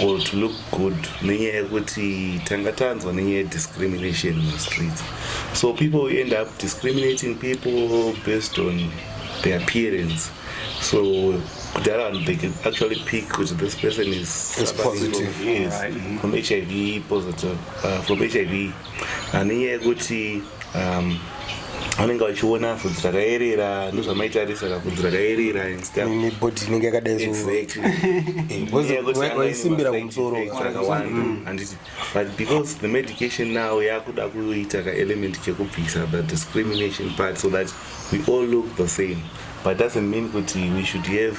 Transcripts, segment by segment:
or to look good nenyaya yekuti tanga tanzwa nenyaya yediscrimination mumastreets so people we end up discriminating people based on the appearance so kudhara vanhu they can actually pick kuti this person is, is positive, yes, right. Mm-hmm. from hiv positive uh, from hiv Haniye yekuti um, anenge vachiona vhudzi rakayerera ndozvamaitarisa kavhudzi rakayerera nebody inenge yakadaiwaisimbira eh, kumusoro mm. but because the medication now yakuda kuita kaelement kekubvisa the discrimination part so that we all look the same but doesn't mean kuti we should have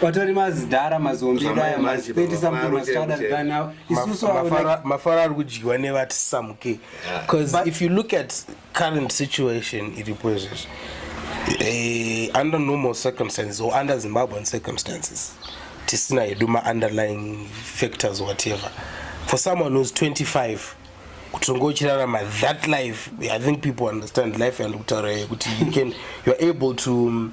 Patori mazidhara mazombi daya mazi 30 something must rather die now. Isusu avo like mafara ari kudyiwa nevati samuke. Because But- if you look at current situation iripo izvezvi eh, under normal circumstances or under zimbabwean circumstances tisina hedu maunderlying factors whatever for someone who's 25 kutonga uchirarama that life i think people understand life and kutaura kuti you can you're able to um,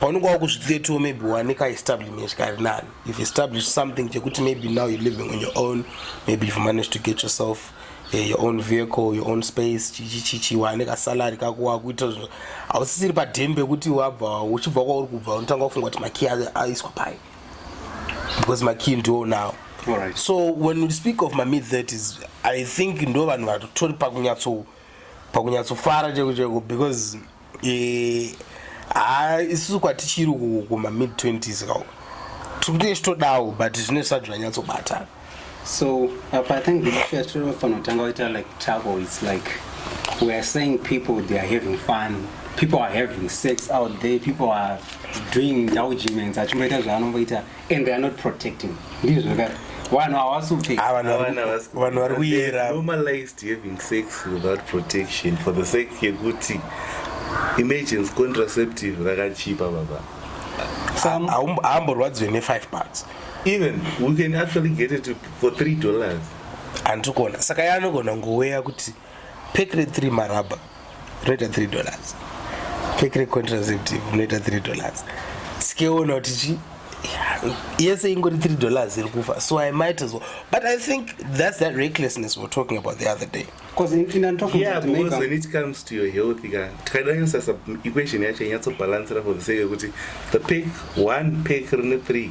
paunenge wakuzvisettle maybe wane kaestablishment kari nani you've established something chekuti maybe now you're living on your own maybe you've managed to get yourself uh, your own vehicle your own space chichichichi wane kasalary kako wakuita zvinhu hausisiri padheni pekuti wabva uchibva kwauri kubva unotanga kufunga kuti makey aiswa pai because makey ndiwo now right. so when we speak of mamid 30s i think ndo vanhu vatotori pakunyatso pakunyatsofara cheko cheko because haa isusu kwatichiri kuma mid 20s ka tiri kuti chitodawo but zvine sati zvanyatsobatana so apa i think tinofanotanga waita like trouble its like we are saying people they are having fun people are having sex out there people are doing indulgements achimboita zvaanomboita so, and they are not protecting ndizvo ka vanhu havasi kupfeka Ah, vanhu vari- vanhu vari kuyera normalized having sex without protection for the sake yekuti emergency contraceptive rakachipa baba Some- Haumbo- haamborwadziwe ne-five bucks even we can actually get it for three dollars andiri kuona saka yaanogona kungoweya kuti Pekre 3 marabha rinoita 3 dollars. Pekre contraceptive rinoita 3 dollars. Sikeona kuti chi yese ingori 3 dollars iri kufa so i might as well but i think that's that recklessness we're talking about the other day tikadanyasasa equation yacho inyatsopalansira for the sake yekuti the pek one pek rine three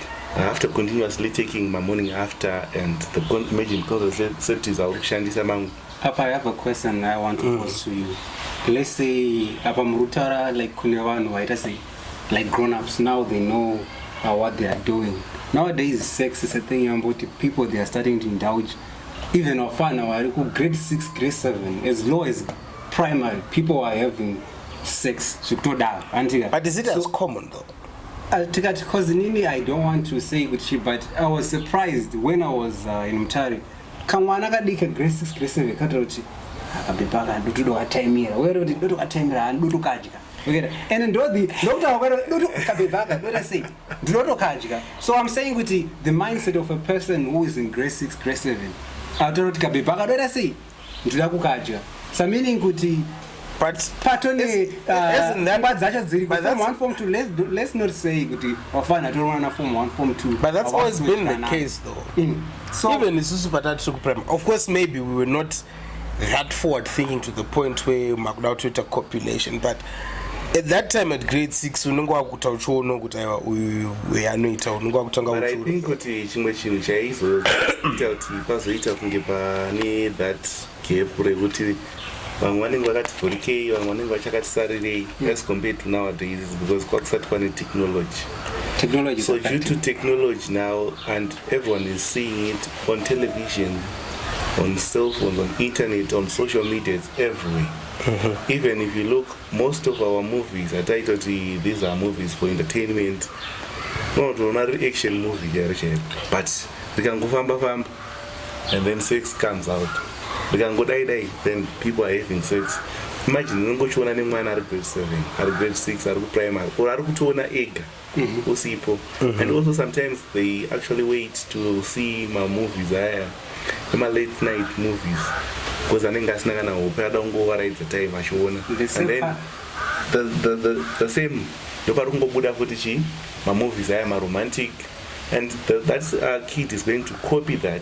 after continuously taking my morning after and the imagine contraceptives auri kushandisa mangu apa i have a question i want to mm. pose to you let's say apa muri kutaura like kune vanhu vaita sei like grown ups now they know uh, what they are doing nowadays sex is a thing yamboti people they are starting to indulge even wafana vari ku grade 6 grade 7 as low as primary people are having sex zvekutodaro andiga but is it so, as common though Uh, tikati because inini i don't want to say kuti chi but i was surprised when i was uh, in mutare kamwana kadika grade six grade seven katoda kuti akabepa kana dutu dokataimira were kuti dutu kataimira hani dutu kadya okera and ndodhi ndokutaura kwero dutu kabepa aka dota sei ndinotokadya so i'm saying kuti the mindset of a person who is in grade six grade seven atora kuti kabepa aka dota sei Ndida kukadya. So meaning kuti but patone pfungwa uh, dzacho dziri form one form two let's, do, let's not say kuti wafana torona na form one form two but that's always been the case though mm. so even isusu patati tiri kuprimary of course maybe we were not that forward thinking to the point where makuda kutoita copulation but at that time at grade six unenge wakuta uchiona kuti aiwa uyu anoita unenge wakutanga but i think kuti chimwe chinhu chaizoita kuti pazoita kunge pane that gap rekuti vamwe vanenge vakati vhurikei vamwe vanenge vachakati sarirei mm. as compared to nowadays because kwakusati kwane technology technology so due to technology now and everyone is seeing it on television on cell phones on internet on social media it's everywhere even if you look most of our movies ataitoti these are movies for entertainment unotoona ri action movie chero chero but rikangofamba famba and then sex comes out rikangodai dai then people are having sex imagine unongochiona nemwana ari grade seven ari grade six ari kuprimary or ari kutoona ega mm -hmm. usipo mm -hmm. and also sometimes they actually wait to see mamovies aya emalate night movies because anenge asina kana hope ada kungovaraidza time achiona and then the, the, the, the same ndopari kungobuda futi chii mamovies aya maromantic and the, that uh, kid is going to copy that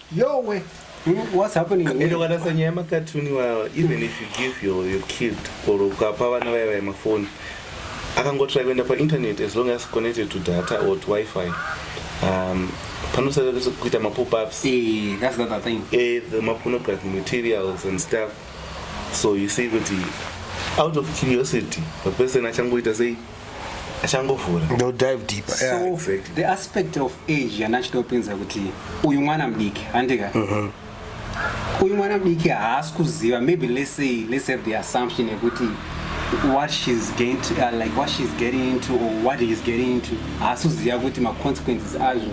Yowe. Hmm, what's happening here? Ende wanasa nyaya makatuni iwawa even if you give your, your kid or ukapa vana vaya vaya mafoni akangotrai kuenda painternet as long as connected to data or to wifi um, panosada kuita mapopups eh, that's not a thing eh, the mapornography materials and stuff so you see kuti out of curiosity the person achangoita sei achangovhura ndo dive deep so yeah, exactly. the aspect of age yana achida kupinza kuti uyu mwana mudiki handika mm -hmm. uyu mwana mudiki haasi kuziva maybe let's say let's have the assumption yekuti what she's getting to, uh, like what she's getting into or what he's getting into haasi kuziva kuti maconsequences azvo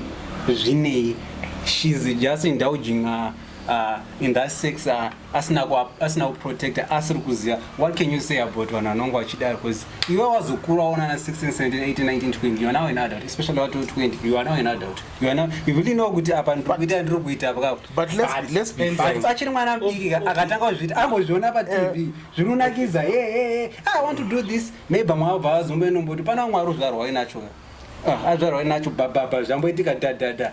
zvinei she's just indulging uh, uh, in that sex uh, asina asina kuprotecta asiri kuziva what can you say about vanhu vanonge vachidaro because iwe wazokura waona na 1617181920 youare now an adult especially wato 20 you are now an adult you are now you really know kuti apa ndikuita ndiri kuita pakachiri mwana mudiki akatanga kuzviti angozviona patv eh. zvinonakidza e e e i want to do this maybe mwavo bva vazomboenomboti pana mwari uzvarwai nacho ah, azvarwai nacho bababa zvamboitika dadada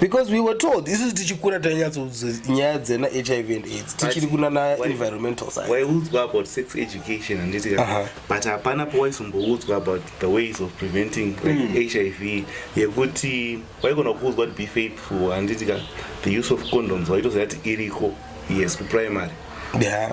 because we were told isusu tichikura tainyatsoudza nyaya dzena hiv and aids tichiri kunana environmental sciencewayiudzwa about sex education handiti uh -huh. but hapana pawayizomboudzwa about the ways of preventing like, mm. hiv yekuti wayigona kuudzwa kuti be faithful handiti ka the use of condoms wayitoziva kuti iriko yes kuprimary yeah.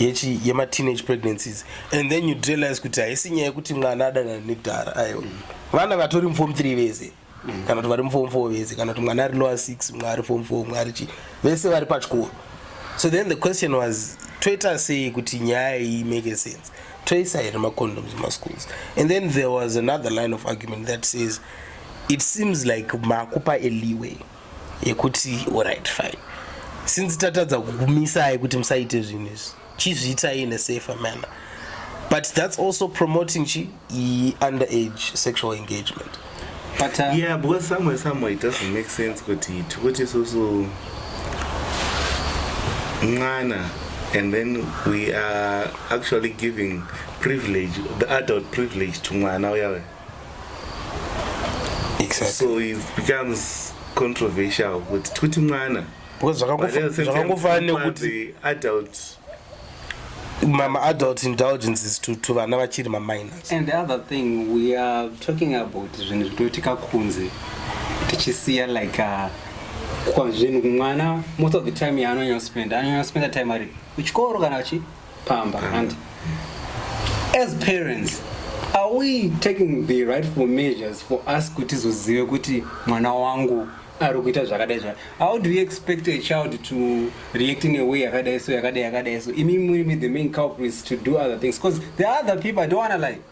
yechi yema teenage pregnancies and then you realize kuti haisi nyaya yekuti mwana adanana nekudhara aiwa mm. vana vatori mufom 3 vese mm. kana kuti vari mufom 4 vese kana kuti mwana ari lower 6 mwa ari fom 4 mwa ari chi vese vari pachikoro so then the question was toita sei kuti nyaya iyi make sense toisa here macondoms mumaschools and then there was another line of argument that says it seems like makupa eliway yekuti orit fine since tatadza kukumisai kuti musaite zvinhu izvi chizviitai in a safer manner but that's also promoting chi under age sexual engagement but uh, yeah because somewhere somewhere it doesn't make sense kuti tikuti isusu mwana and then we are actually giving privilege the adult privilege to mwana uyawe exactly. so it becomes controversial kuti tikuti mwana because zvakangofanira nekuti adult mama adult indulgences to, to vana vachiri maminors and the other thing we are talking about zvinhu zvitoitika kunze tichisiya like uh, kwazvinhu mwana most of the time yaanonyanya spend anonyanya spenda time ari kuchikoro kana chi pamba and as parents are we taking the rightful measures for us kuti tizozive kuti mwana wangu ari kuita zvakadai zva how do you expect a child to react in a way yakadai so yakadai yakadai so imi muri the main culprits to do other things because the other people i don't wanna lie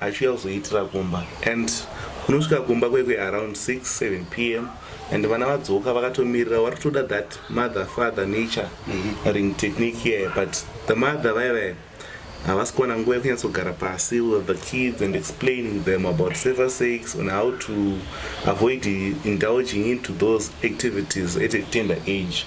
Achiuya kuzoitira kumba and unosvika kumba kwekwe around 6 7 pm and vana vadzoka vakatomirira wari kutoda that mother father nature mhm. ring technique here but the mother vaye vaye havasi kuwana nguva yekunyatsogara pasi with the kids and explaining them about saver sakes and how to avoid indulging into those activities at a tender age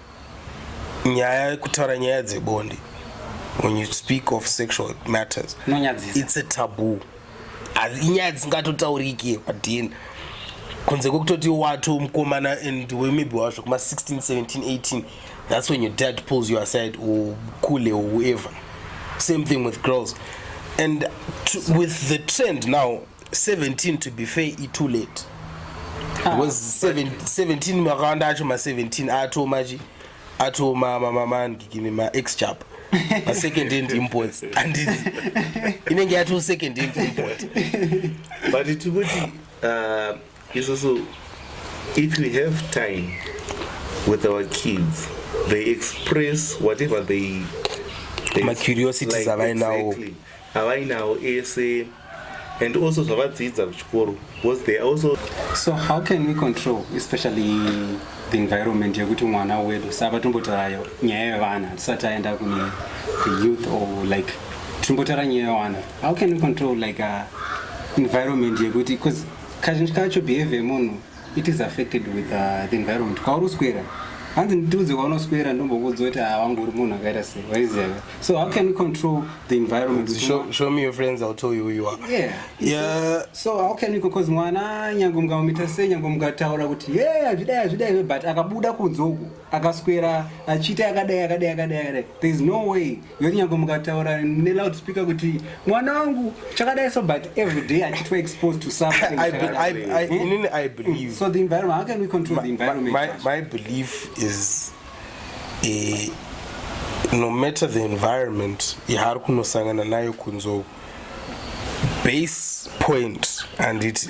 nyaya yekutaura nyaya dzebonde when you speak of sexual matters Nonyadzisa. it's a taboo Hazi- inyaya dzisingatotaurike padn kunze kwekutoti wato mukomana and we maybe wazvo kuma 16 17 18 that's when your dad pulls you aside or kule or whoever same thing with girls and to, with the trend now 17 to be fair i too late ah. because 17 makawanda acho ma17 atomachi ato mamamandikini maex chap masecond hand imports and inenge yato second hand import but tikuti uh, isusu if we have time with our kids they express whatever they, they macuriosities like, avainawo exactly. avainawo ese and also zvavadzidza kuchikoro because they also so how can we control especially the environment yekuti mwana wedu saka tombotaura nyaya yevana tisati aenda kune the youth or like tombotaura nyaya yevana how can we control like a uh, environment yekuti bcause kazhinji kacho behavior yemunhu it is affected with uh, the environment kwauri uswera hanzi nditiudze waunoswera ndombokuudza kuti ah, wangu uri munhu akaita sei waiziva so how can we control the environment show, show me your friends i'll tell you who you are yeah, yeah. So, so how can we because mwana nyange mungamuita sei nyange mungataura kuti ye yeah, azvidai azvidai but akabuda kunze uku akaswera achiita akadai akadai akadai akadai there is no way yoti nyange mukataura neloud speaker kuti mwana wangu chakadai so but every day achitwa exposed to something I, I, I, eh? I believe so the environment how can we control my, the environment my, my, my belief is a, eh, no matter the environment yaari kunosangana nayo kunzou base point and it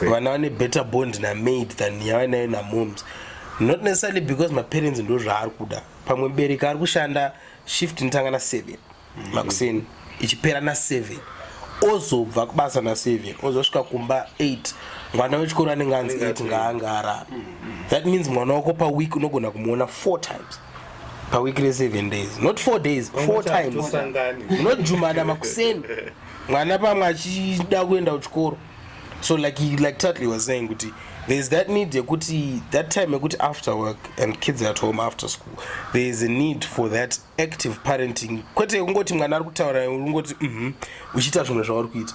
vana vane better bond namaid than yavanayo namoms not necessarily because maparents ndo zvaari kuda pamwe bereka ari kushanda shift inotanga na7 makuseni ichipera na7 ozobva kubasa na7 ozosvika kumba 8 mwana wechikoro anenge anzi 8 ngaanga arara that means mwana wako paweek unogona kumuona 4 times paweek re7 days not four days four times munojumana makuseni mwana pamwe achida kuenda kuchikoro so like, like tatley was saying kuti thereis that need yekuti that time yekuti after work and kids at home after school there is a need for that active parenting kwete kungoti mwana ari kutaura ungoti um uchiita zvimwe zvauri kuita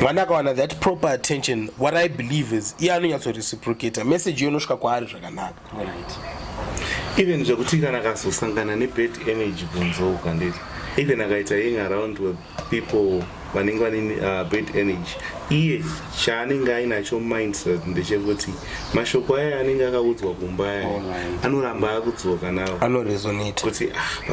mwana akawana that proper attention what i believe is iye anonyatso reciprocata message iyo inosvika kwaari zvakanaka even zvekuti kana akazosangana nebad energy kunzo ukanditi even akaita ying around with people vanenge vane uh, bad energy iye chaanenge ainacho mindset ndechekuti mashoko aya anenge akaudzwa kumba aya anoramba akudzoka nawo kuti ah,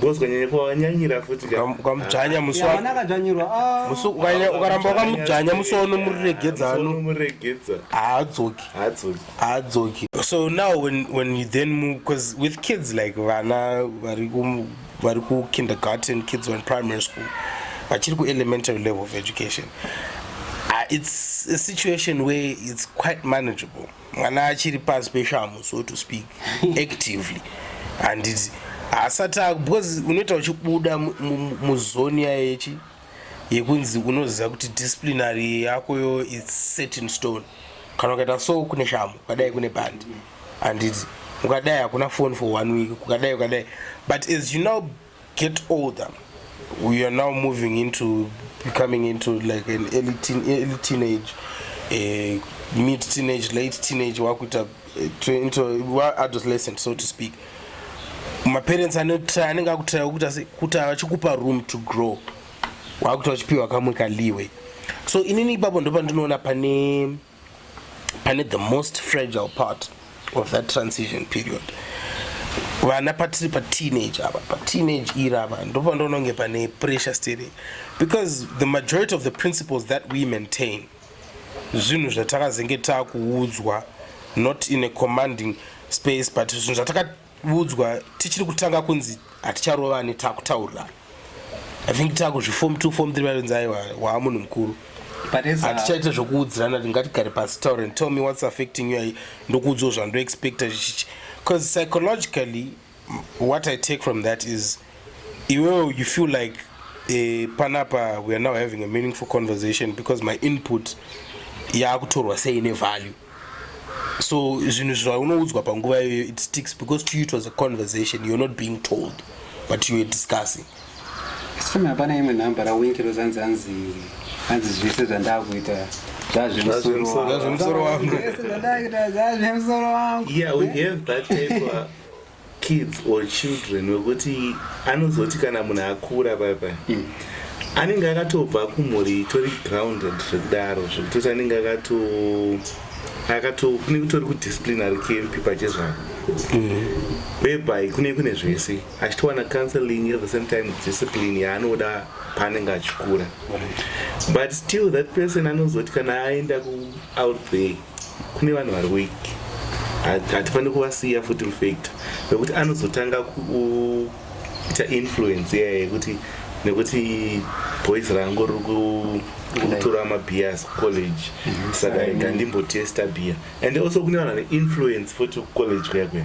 Gozwa nyanya kwa wanyanyira futi ka. Ukamudzvanya musi Yeah, wa mwana akadzvanyirwa ah. musi ukanya- ukaramba wakamudzvanya musi waunomuregedza ano Unomuregedza. haadzoki Haadzoki. haadzoki so now when, when you then move because with kids like vana vari ku- vari kukindergarten kids on primary school vachiri kuelementary level of education uh, it's a situation where it's quite manageable mwana achiri pasi peshamhu so to speak actively handiti haasati because unoita uchibuda muzoni yayechi yekunzi unoziva kuti disciplinary yako yo its set in stone kana ukaita so kune shamu ukadai kune bandi handiti ukadai hakuna phone for one week ukadai ukadai but as you now get older we are now moving into becoming into like an early, teen, early teenage uh, mid teenage late teenage wakuita eh, into adolescent so to speak maparents anotry anenge akutry kuti kuti achikupa room to grow wakuti wachipiwa kamwe kaliwe so inini ipapo ndopandinoona pane pane the most fragile part of that transition period vana patiri pateenage ava pateenage iri ava ndopandoona kunge pane pressure stiri because the majority of the principles that we maintain zvinhu zvatakazenge takuudzwa not in a commanding space but zvinhu zvataka udzwa tichiri kutanga kunzi haticharovani takutaurirana i think takuzvifom t fom three vainzi aiwa waa munhu mukuru hatichaita zvokuudzirana tingatigare pasi taure and tell me what's affecting you ndokuudzwa zvandoexpecta chichichi because psychologically what i take from that is iwewo you feel like uh, panapa we are now having a meaningful conversation because my input yaakutorwa sei nevalue so zvinhu zvaunoudzwa panguva iyoyo it sticks because to you it was a conversation you're not being told but you were discussing sifumi hapana imwe nhamba rawinki rozanzi anzi anzi zvese zvandakuita zvazvemusoro wangu zvazvemusoro wangu yeah we have that paper kids or children wekuti anozoti kana munhu akura paya paya mm. anenge akatobva kumhuri itori grounded zvekudaro zvekutoti anenge akato akato kune kutori kudisciplinary camp pachezvako mm-hmm. whereby kune kune zvese achitowana counseling at the same time discipline yaanoda paanenge achikura but still that person anozoti kana aenda kuout there kune vanhu vari weak hatifaniri kuvasiya futi mufactor nekuti anozotanga kuita influence iya yekuti nekuti boys rangu riri kutora mabias kucollege mhm. saka rega ndimbotesta bia and also kune vanhu vane influence futi kucollege kuya kuya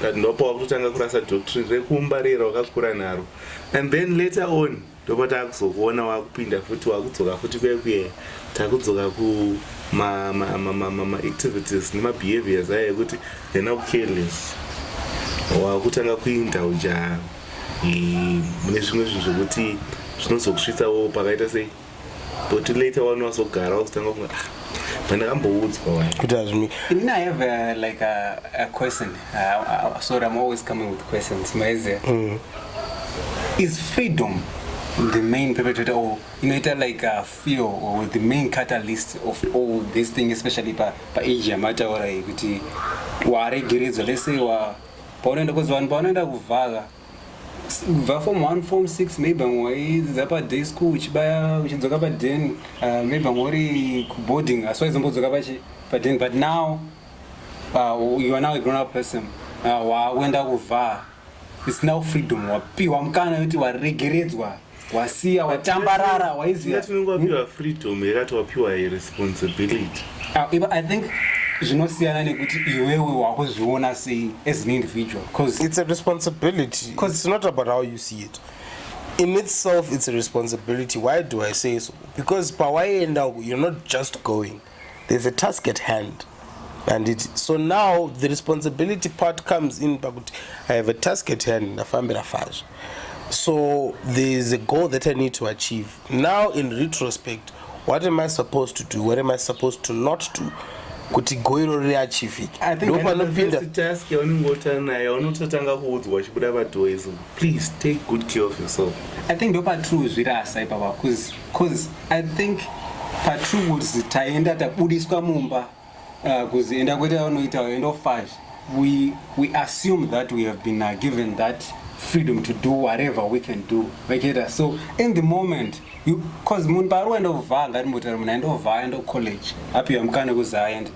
but ndopa wakutotanga kurasa doctrine rekumbarira wakakura naro and then later on ndopa takuzokuona wakupinda futi wakudzoka futi kwekuye takudzoka kumaactivities nemabehaviors ayo ekuti hena kucareless wakutanga kuinda uja mune zvimwe zvinhu zvekuti zvinozokusvitsawo pakaita sei but later one wazogara wakutanga kunga ndakamboudzwa wani kuti hazvimi I mean, I have uh, like a, a question. Uh, uh, sorry, I'm always coming with questions. Maeze, Mm. is freedom the main perpetrator or you know, it uh, like a fear or the main catalyst of all this thing, especially pa pa age yamataura iyi kuti waregeredzwa let's say wa paunoenda kuzivanhu paunoenda kuvhaka kubva form one form six maybe vamwe waidzidza paday school uchibaya uchidzoka paden uh, maybe vamwe uri kuboarding asi waizombodzoka pachi paden but now uh, you are now a grown up person uh, wakuenda kuvhaa it's now freedom wapiwa mukana yoti waregeredzwa wasiya watambarara waiziva tinenge wapiwa freedom here ati wapiwa responsibility ah, i think zvinosiyana nekuti iwewe wakuzviona sei as an individual because it's a responsibility because it's not about how you see it in itself it's a responsibility why do i say so because pawaienda uku you're not just going there's a task at hand and it so now the responsibility part comes in pakuti i have a task at hand ndafambira fazvo so there's a goal that i need to achieve now in retrospect what am i supposed to do what am i supposed to not do kuti goiro riri achievike ndopanopinda task yaunenge utari nayo unototanga kuudzwa uchibuda padoizo Please take good care of yourself. I think ndo patrue zvirasa ipapa cause cause I think patrue kuti taenda tabudiswa mumba uh, kuzienda kwete vanoita vaenda ofazh we, we assume that we have been uh, given that freedom to do whatever we can do vachita so in the moment cause munhu paari waenda kuvhaa ngati motari munhu aenda kuvhaa aenda kucollege apiwa mukana kuzi aende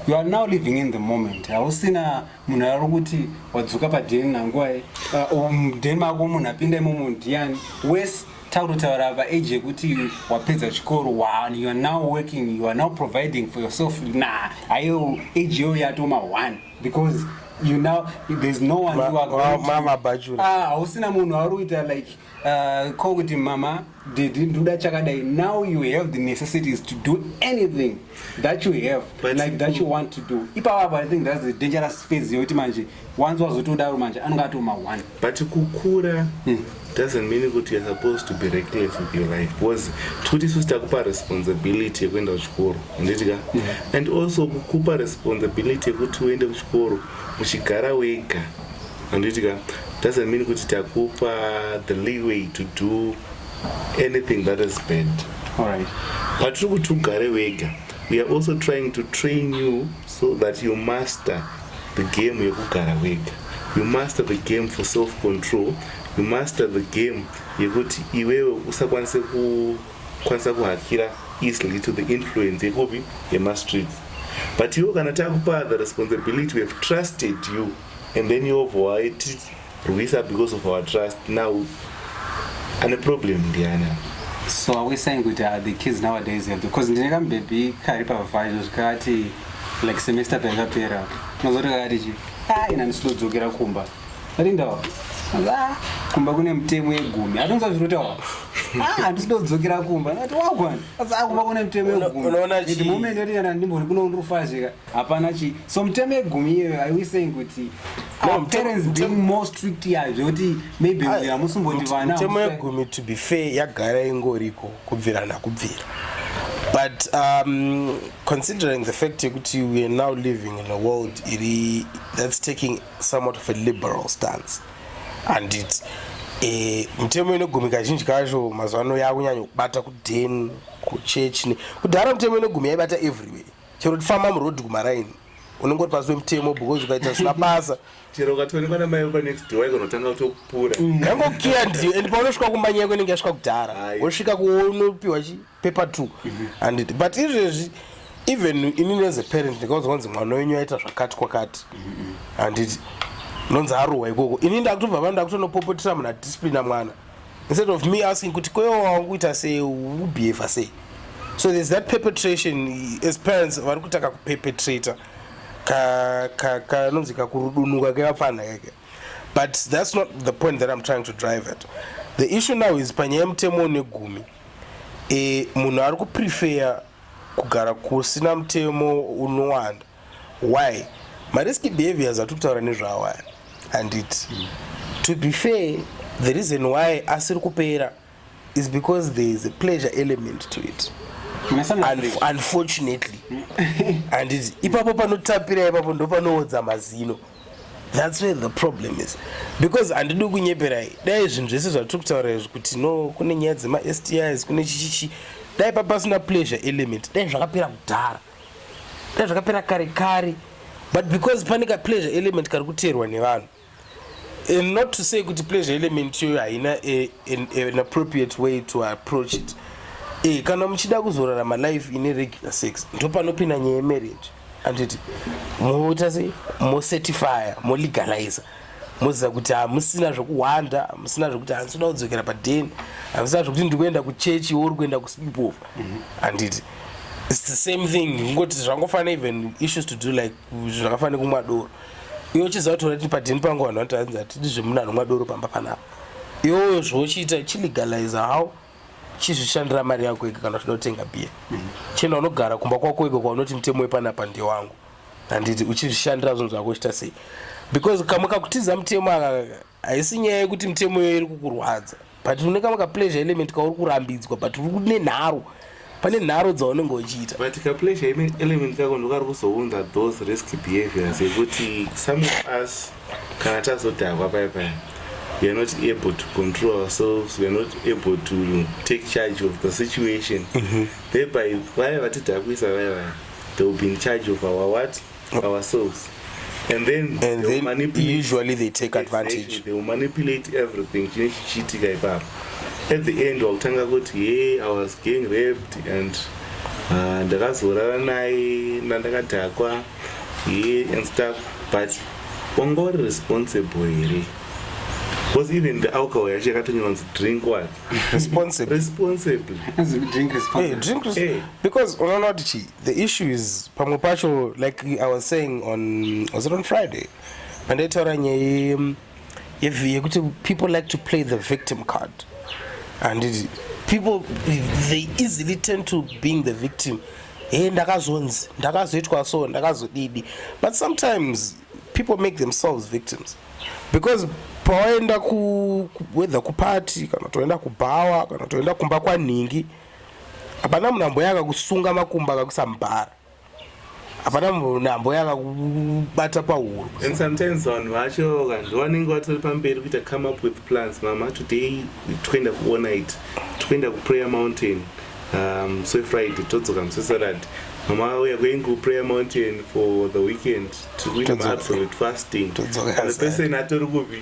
you are now living in the moment hausina munhu ari kuti wadzoka padheni nangwai uh, um, mudheni mako munhu apinda imomo ndiani wese takutotaura paage yekuti wapedza chikoro you are now working you are now providing for yourself na ayo age yoyo yatoma one because you now there's no one you are going to ah hausina munhu auri kuita like Uh, ko kuti mama did nduda chakadai now you have the necessities to do anything that you have But like that you want to do ipavapa i think that's the dangerous phase yekuti manje wanzi wazotodaro manje anonge atoma one but kukura hmm. doesn't mean kuti you're supposed to be reckless with your life because tikuti isusu takupa responsibility yekuenda kuchikoro handiti ka hmm. and also kukupa responsibility yekuti uende kuchikoro uchigara wega handiti ka doesn't mean kuti takupa the leeway to do anything that is bad alright patiri kuti ugare wega we are also trying to train you so that you master the game yekugara wega you master the game for self control you master the game yekuti iwewe usakwanise kukwanisa kuhakira easily to the influence yekupi yemastreets but iwo kana takupa the responsibility we have trusted you and then yobvo waitirwisa because of our trust now ane problem ndiani so are we saying kuti uh, the kids nowadays have because ndine kamubhebhi kari pavhaizvo zvikati like semester payakapera unozoti kakati chi ah, ina ndisidodzokera kumba atindawa ah, kumba kune mutemo yegumi atonza zvirotawa andisidodzokera ah, kumba ati wagwan akumba kune mutemo yegumiunoona chiimumendotiana ndimbori kuno ndiri kufazika hapana chi so mitemo yegumi iyoyo are we saying kuti No, our mtemo- parents mtemo- being more strict yayo zvekuti maybe uyu hamusimboti vana mutemo hamusi- yegumi to be fair yagara ingoriko kubvira nakubvira but um, considering the fact yekuti we are now living in a world iri that's taking somewhat of a liberal stance and it eh, mitemo inogumi kazhinji kacho mazuva ano yakunyanya kubata kuden kuchurch ne- kudhara mitemo inogumi yaibata everywhere chero tifamba muroad kumaraini unenge uri pasi wemutemo because ukaita zvisina basa chero ukatoonekwa namai vekwa next door ikonotanga kutokupura mm. yangokiya ndiyo and paunosvika kumanya yako inenge yasvika kudhara wosvika kuonopiwa chipepa two mhm. anditi but izvezvi even ini neze parent ndikauza kwanzi mwana wenyu aita zvakati kwakati mhm. anditi nonzi arohwa ikoko ini ndakutobva pano ndakutonopopotera muna discipline amwana instead of me asking kuti kwewo wakuita sei ubehave sei so there's that perpetration as parents vari kutaka kuperpetrator kanonzi ka, ka, kakurudunuka kevapfanha keke but that's not the point that i'm trying to drive at the issue now is panyaya yemutemo negumi e, munhu ari kuprefeya kugara kusina mutemo unowanda Why ma risky behaviors atiri kutaura nezvawo aya handiti? To be fair, the reason why asiri kupera is because there is a pleasure element to it unfortunately handiti ipapo panotapira ipapo ndopanoodza mazino thats where the problem is because handidi kunyeperai dai zvinhu zvese zvatiri kutaura izvi kuti no kune nyaya dzema stis kune chichichi dai papasina pleasure element dai zvakapera kudhara dai zvakapera kare kare but because pane ka pleasure element kari kuteerwa nevanhu and not to say kuti pleasure element iyoyo haina an appropriate way to approach it e, kana muchida kuzorarama life ine regular sex ndopanopinda nyaya yemarriage anditi moita sei mocertifya molegalizer moziva kuti hamusina zvokuhwanda hamusina zvokuti handisina kudzokera padeni hamusina zvokuti ndikuenda kuchechi or kuenda kusipofa handiti mm -hmm. its the same thing ngoti zvangofanira even issues to do like zvakafanira kumwa doro iwe uchiziva kuti unati padini pangu vanhu vanoti hanzi hatidi zvemunhu anomwa doro pamba panapa iwoyo zvauchiita chilegalize how chizvishandira mari yako ega kana uchida kutenga biya mm-hmm. chena unogara kumba kwako ega kwaunoti mutemo wepanapa ndewangu handiti uchizvishandira zvinhu zvako uchita sei because kamwe kakutiza mutemo aka haisi nyaya yekuti mitemo iyoyo iri kukurwadza but une kamwe kapleasure element kauri kurambidzwa but uri kune nharo pane nharo dzaunenge uchiita but kapleasure element kako ndokari kuzounza those risk behaviors yekuti some of us kana tazodhakwa paya paya we are not able to control ourselves we are not able to take charge of the situation mm -hmm. thereby vaya vatidhakwisa vaya vaya they will be in charge of our what ourselves and then, and they then usually they take advantage exactly, they will manipulate everything chine chichiitika ipapo at the end wakutanga kuti hey i was getting raped and uh, ndakazorara naye nandakadhakwa ye and stuff but wanga uri responsible here was even the alcohol yacho yakatonyanzi drink what responsibly hey, drink responsibly hey. because unoona kuti chii The issue is pamwe pacho like I was saying on was it on Friday pandaitaura nyaya yekuti people like to play the victim card and it, people they easily tend to being the victim hey ndakazonzi ndakazoitwa so ndakazodidi but sometimes people make themselves victims because pawaenda kuwether kuparty kana toenda kubhawa kana toenda kumba kwanhingi hapana munhu amboya akakusunga makumbo akakusamubhara hapana munhu amboya akakubata pahuro and sometimes vanhu vacho kazvi vanenge vatori pamberi kuita come up with plans mama today toenda kuona it toenda kuprayer mountain um, so friday todzoka musesarad mama we are going to prayer mountain for the weekend tikuita maabsolute fasting the person atori kupi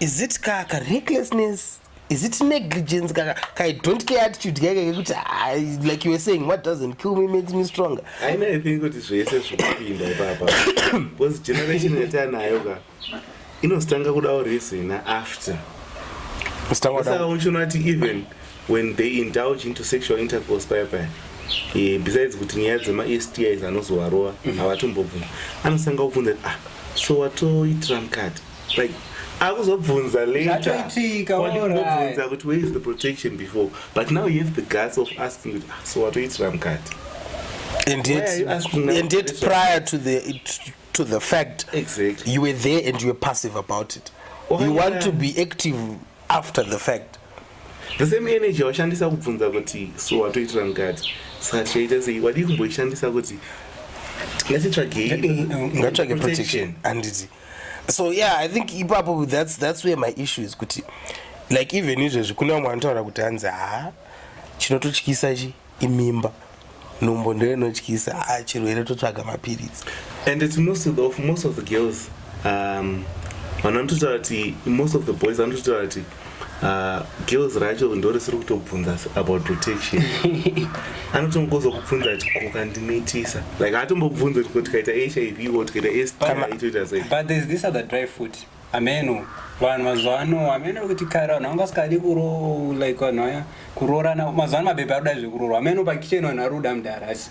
Is it ka, ka recklessness? Is it negligence ka, ka I don't care attitude kaka kekuti ah, like you were saying what doesn't kill me makes me stronger. I know I think kuti zvese zvokupinda ipapa. Because generation yatanayo ka inostanga kuda urisina after. Stanga kuda. Saka uchiona kuti even when they indulge into sexual intercourse paya paya. Eh, besides kuti nyaya dzema STIs anozovarova mm-hmm. havatombobvuma. Anostanga kubvunza ah so watoitira mukati. like akuzobvunza laterzvatoitika obvunza kuti where is the protection before but now you have the guts of asking kuti ah, so watoitira mukati and yet, and yet prior to the it, to the fact exactly. you were there and you were passive about it oh, you yeah. want to be active after the fact the same energy washandisa kubvunza kuti so watoitira mukati saka tichaita sei wadii kumboishandisa kuti ngatitsvagei ngatitsvage protection handiti so yeah i think ipapo that's, that's where my issue is kuti like even izvezvi kune vamwe vanotaura kuti hanzi haa chinototyisa chi imimba nhumbo ndo inotyisa haa chirwere totsvaga mapiritsi and its most of the, most of the girls um, vanototaura kuti most of the boys vanototaura kuti Uh, girls racho ndo risiri kutobvunza about protection anotongozo kubvunza kuti koka ndinoitisa like atombobvunza kuti ko tikaita hiv ko tikaita stitoita sei but there's this other dry foot ameno vanhu mazuva ano ameno kuti kare vanhu vanga vasikadi kuro like vanhu vaya kuroorana mazuva ano mabhebhe aruda zvekurorwa ameno pakicheni vanhu varuda mudhara asi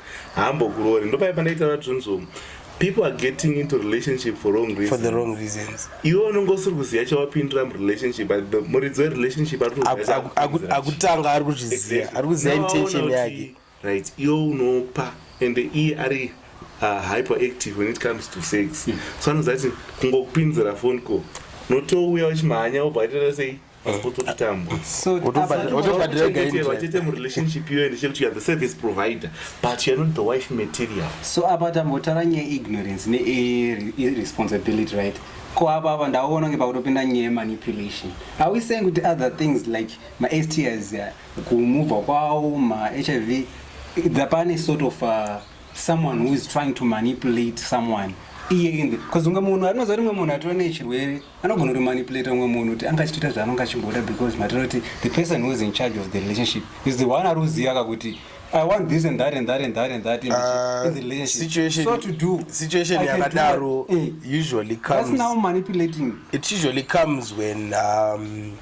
haambokuroori ndopaye pandaitaura dzvunzvomu people are getting into relationship for wrong reasons. for the wrong reasons iwe unenge usiri kuziva chawapindira murelationship muridzi werelationship akutanga ari kuzviziva ari kuziva intention yake right iwe unopa ende iye ari uh, hyperactive when it comes to sex so anoziva kuti kungokupinzira phone call notouya uchimhanya wobva aitaura sei so apa tambotara nyaya ignorance neresponsibility right ko apa apa ndaona kunge pakutopinda nyaya yemanipulation are we saying kuti other things like mastis uh, kumuvha kwawo mahiv thapane sort of uh, someone who is trying to manipulate someone iye inde bcause unge munhu anoziva rimwe munhu atova nechirwere anogona kutomanipulate umwe munhu kuti anga achitoita zvaanonge achimboda because matira kuti the person who is in charge of the relationship is the one ari kuziva ka kuti I want this and that and that and that and that in, uh, in the relationship. Situation, so to do situation yakadaro eh. usually comes. That's now manipulating. It usually comes when um,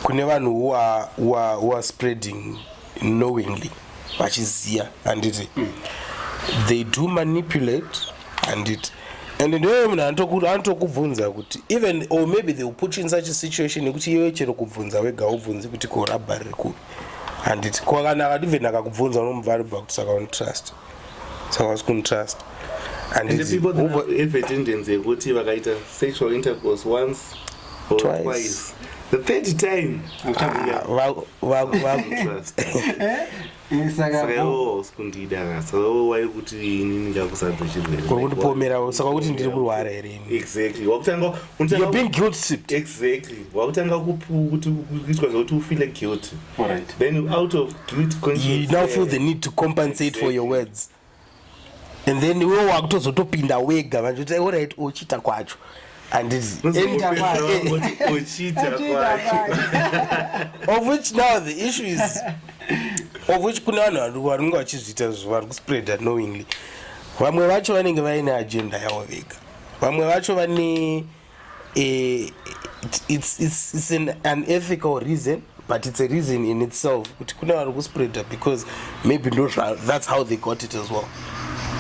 kune vanhu who are, who are, who are spreading knowingly vachiziya handiti mm. they do manipulate handiti and ndoyo munhu anotokubvunza kuti even or maybe they will put you in such a situation yekuti iwe chero kubvunza wega ubvunzi kuti korabha riri kupi handiti ko kana akati even akakubvunza unomubva aribva kuti saka unotrust so hausi kunditrust andievidence yekuti vakaita sexual intercourse once or twice, twice. the third time sakakundidaaurikundipomerawo saka kuti ndiri kurwara herewakutangakuitwa zvekuti ufile guilty All right. Then you out of guilt conscience. You now feel the need to compensate exactly. for your words. And then iwe wakutozotopinda wega vanhu kuti all right ochita kwacho. And it's of which now the issue is of which kune vanhu vanenge vachizviita vari kuspreada knowingly vamwe vacho vanenge vaine agenda yavo vega vamwe vacho vane eh, it's, it's, it's an unethical reason but it's a reason in itself kuti kune vari kuspreader because maybe ndo that's how they got it as well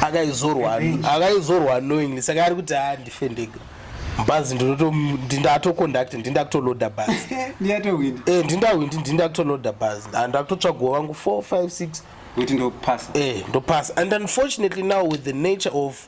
akaizorwa akaizorwa knowingly saka ari kuti a ah, ndife ndega bhazi ndinatoconduct ndindakutoloda bhazi eh, ndindawindi ndindakutoloda bhazi ndakutotsvagwa vangu 4 5 6 kuti ndopasa eh ndopasa and unfortunately now with the nature of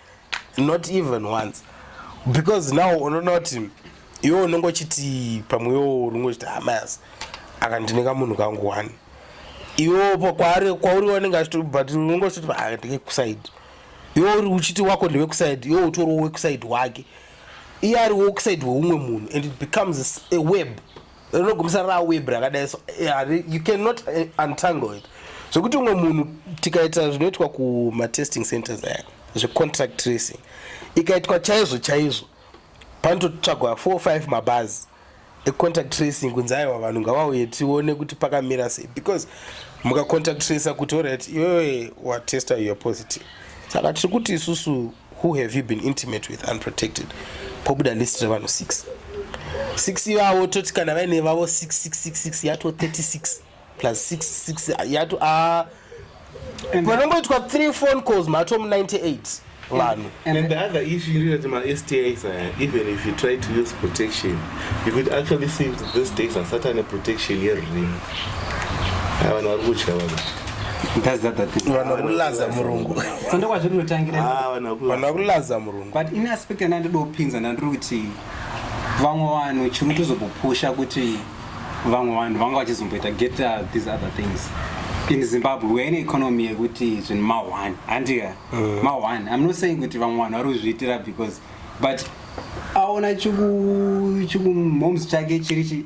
not even once because now unoona kuti iwe unenge uchiti pamwe iwo unenge uchiti hamas ah, akandineka munhu kangu one iwe kwaari kwauri wanenge achiti but unenge uchiti ah, ndike kusaidi iwe uri uchiti wako ndewekusaidi iwe utoriwo wekusaidi wake iye ari wekusaidi weumwe munhu and it becomes a web rinogumisa ra web rakadai so eh, you cannot eh, untangle it zvekuti umwe munhu tikaita zvinoitwa kumatesting centers aya zvecontract tracing ikaitwa chaizvo chaizvo panototsvagwa four five mabhazi econtact tracing kunzi aiwa vanhu ngavauye tione kuti pakamira sei because mukacontact tracer kuti orit iwewe watesta your positive saka tiri kuti isusu who have you been intimate with unprotected pobuda list revanhu 6 6 ivavo toti kana vaine vavo 6666 yato 36 plus 66 yato a panongoitwa 3 phone calls mato mu 98 vanhu and, and the other issue iri kuti mastis aya even if you try to use protection you could actually see that this days asati ane protection yerini Ah, vanhu vari kutya vanhu That's that, that thing. vanhu vakulaza murungu So ndokwazviri kutotangira. Ah, vanhu vakula- vanhu vakulaza murungu but in aspect yandanga ndiri kupinza ndandiri kuti vamwe vanhu chiri kutozobopusha kuti vamwe vanhu vanga vachizomboita get uh, these other things in zimbabwe we're in an economy yekuti zvinhu mahwani handika mahwani i'm not saying kuti vamwe vanhu vari kuzviitira because but aona chiku chikumhoms chake chiri chi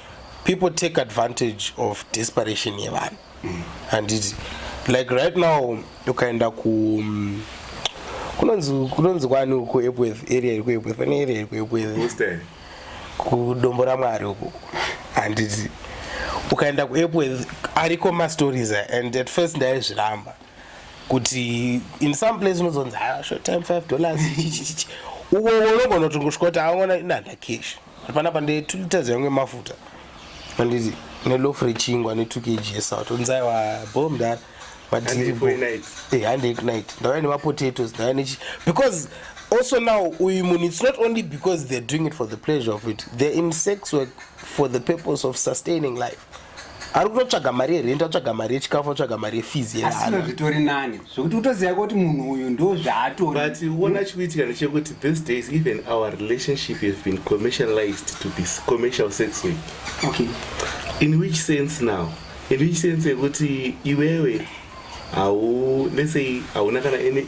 people take advantage of desperation yevanhu mm. and it, like right now ukaenda ku um, kunonzi kwani uku epworth area iri kuepworth pane area iri kuepworth kudombo ramwari uku handiti ukaenda kuepworth ariko mastories and at first ndaizviramba kuti in some place unozonzi ah, short time five dollars uko unogona kutongoshika kuti aona inanda cash panapa ndi 2 liters yangu yemafuta anditi nelof rechingwa ne 2 kg yesato nzai wabho mdara madiribohandek night ndauya nemapotatoes ndauya nechi because also now uyu munhu it's not only because they're doing it for the pleasure of it they're in sex work for the purpose of sustaining life ari kutotsvaga mari yerent atsvaga mari yechikafu atsvaga mari yefees yeasino zvitori nani zvekuti utoziva kuti munhu uyu ndo zvaatori but uona chikuitika ndechekuti this days even our relationship has been commercialized to be commercial sex way okay. in which sense now in which sense yekuti iwewe hau let's say hauna kana any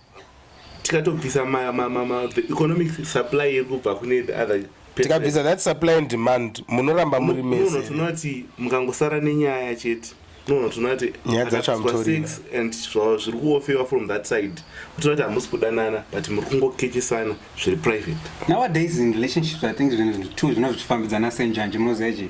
tikatobvisa ma, ma, ma, ma, the economic supply iri kubva kune the other tikabvisa that supply and demand munoramba muri mese tinoti mukangosara nenyaya chete nono tinoti nyaya dzacho amutori and zvava zviri kuofewa from that side tinoti hamusi kudanana but muri kungokechesana zviri private nowadays in relationships i think zvinhu zvinhu two zvinova zvichifambidzana senjanji munoziva chii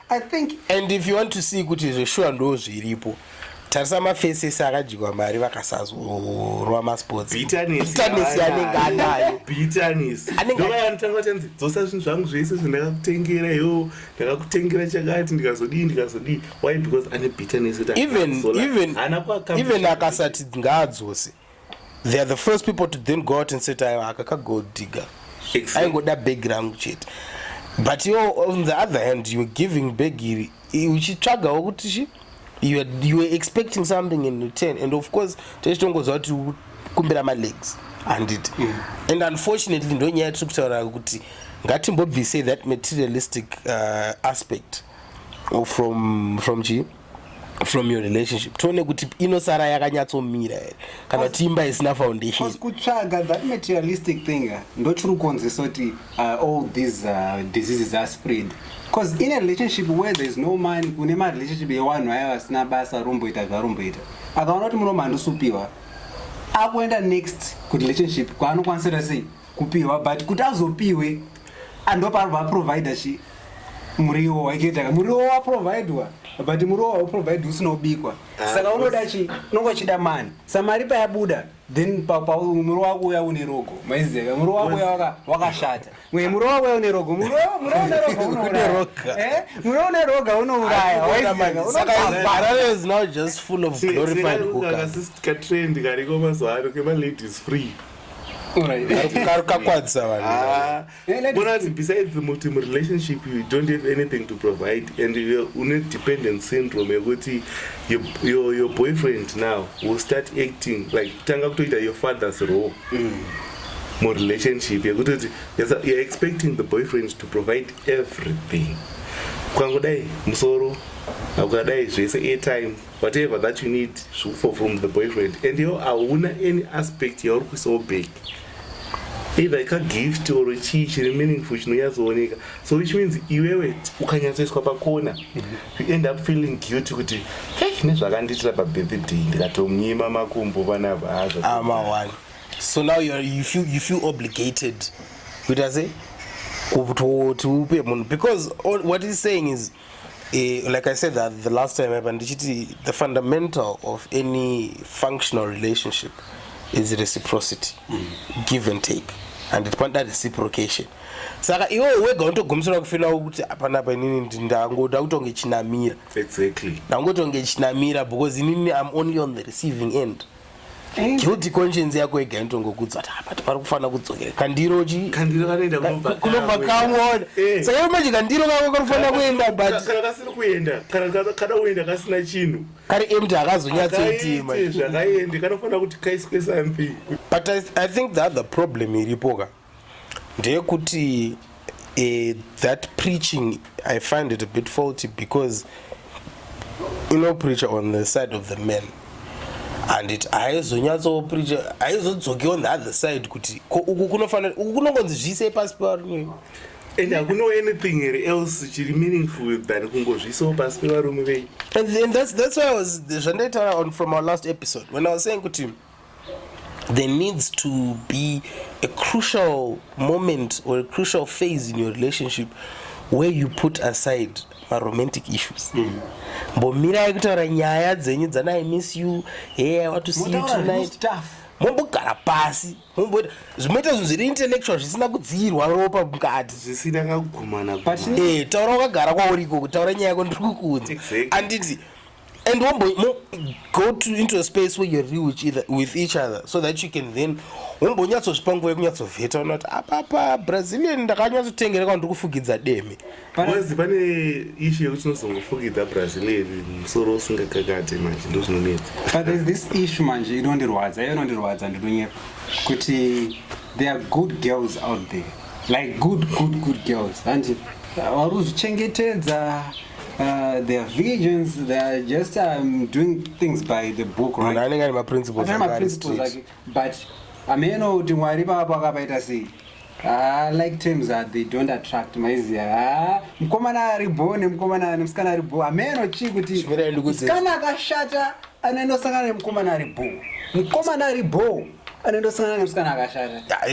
I think and if you want to see kuti zveshuwa ndo zviripo tarisa mafesi ese akadyiwa mari vakasazorwa masports anenge anayo anengeanotanga chanzi dzosa zvinhu zvangu zvese zvandakakutengera yo ndakakutengera chakati ndikazodii ndikazodii why because ane bitterness even even even akasati ngaadzose they are the first people to then go out and say taiwa aka kagold digger aingoda bhegi rangu chete but you on the other hand you were giving bhegi iri uchitsvagawo kuti chi you were, you were expecting something in return and of course taichitongoziva kuti kumbira malegs handiti mm. and unfortunately ndonyaya yatiri kutaura kuti ngatimbobvisei that materialistic uh, aspect from from chii from your relationship tione kuti inosara yakanyatsomira here kana kuti imba isina foundation kutsvaga that materialistic thing eh, ndochiri kukonzesa kuti uh, all these uh, diseases are spread bcause in a relationship where there is no money kune marelationship yewanhu aya vasina basa romboita zvaromboita akaona kuti muno mandusupiwa akuenda next kurelationship kwaanokwanisa ta sei kupihwa but kuti azopihwe andoparwa provider chi muriwo waiketaka muriwo waprovidwa but muriwo wauprovidwa usina kubikwa ah, saka unoda chi unonga uchida mani sa mari payabuda then muriwo wako uya une rogo maizeka muriwo wako uya wakashata mwe muriwo wako uya une rogo muriwo une roga eh? unouraya waizekaarareznow just full of glorified hookers kariko mazuva ano kemaladies free karukakwadza vanhubonazi ah. besides the multi relationship you don't have anything to provide and une dependent syndrome yekuti your, your boyfriend now will start acting like kutanga kutoita your father's role mm. murelationship yekutoti youare expecting the boyfriend to provide everything kwangu dai musoro akukadai zvese airtime whatever that you need zvekufa from the boyfriend and yo hauna any aspect yauri kuisawo back either ikagift or chii chiri meaningful chinonyatsooneka so which means iwewe ukanyatsoiswa pakona you end up feeling guilty kuti hey nezvakandiitira pabirthday ndikatomunyima makumbo vana vazo ah, so now you, are, you, feel, you feel obligated kuita se kuti upe munhu because what is saying is Eh, like I said that the last time happened, the fundamental of any functional relationship is reciprocity, mm. give and take. and it kwanda reciprocation saka iwe wega unotogumisira kufila kuti hapana apa inini ndangoda kutonge chinamira exactly ndangotonge chinamira because inini im only on the receiving end guilty conscience yako yega inotongokudza kuti apa tipari kufanira kudzokera kandiro chi kandiro kanoenda kunobva kunobva kamwona Eh. saka iwe manje kandiro kako kari kufanira kuenda but kana kasiri kuenda kana kana- kana uenda kasina chinhu kari empty akazonyatsoti manje zvakaende kanofanira kuti kaiswe something but I, i think the other problem iripoka ndeyekuti uh, that preaching i find it a bit faulty because inopreacha on the side of the man and it haizonyatsopreacha haizodzoki on the other side kuti ko uku kunofanira uku kunongonzi zviisei pasi pevarume and hakuno anything here else chiri meaningful than kungozviisao pasi pevarume vei and, and that's, that's why i was zvandaitaura on from our last episode when i was saying kuti there needs to be a crucial moment or a crucial phase in your relationship where you put aside maromantic issues mm. mbomirai kutaura nyaya dzenyu dzana i miss you hey i want to see you tonight mombogara pasi momboita zvimoita zvinhu zviri intellectual zvisina kudziirwa ropa mukati zvisina kagumana e eh, taura wakagara kwauriko kutaura nyaya yako ndiri kukuudza anditi exactly and wombo mo, go to into a space where you're real with, either, with each other so that you can then wombonyatsozvipa nguva yekunyatsovheta unoti apapa brazilian ndakanyatsotengera kwandiri kufugidza deme panzi pane ishu yekuti tinozongofugidza brazilian musoro usingakakate manje ndo zvinonetsa but there's this issue manje inondirwadza iyo inondirwadza ndinonyepa kuti There are good girls out there like good good good girls hanti vari kuzvichengetedza Uh, their visions they are just um, doing things by the book right? anenge ane maprinciples ake but ameno kuti mwari papo akapaita sei Ah, like terms that they don't attract maiziya ah, mukomana ari bo nemukomana nemusikana ari bo ameno chii kuti musikana akashata anoendosangana nemukomana ari bo mukomana ari bo anendosangana nemusikana akashata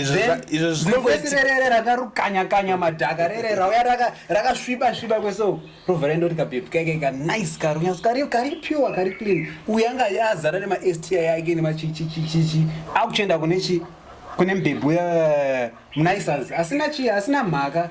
izvo zvinongoitirere rakarukanya kanya madhaka rere rauya rakasviba sviba kweso rovha rendo rikabebi kaike ka nice karo nyasi kari kari pure kari clean uya anga azara nema sti yake nemachichichichichi akuchenda kune chi kune mbebhu ya mnisas asina chi asina mhaka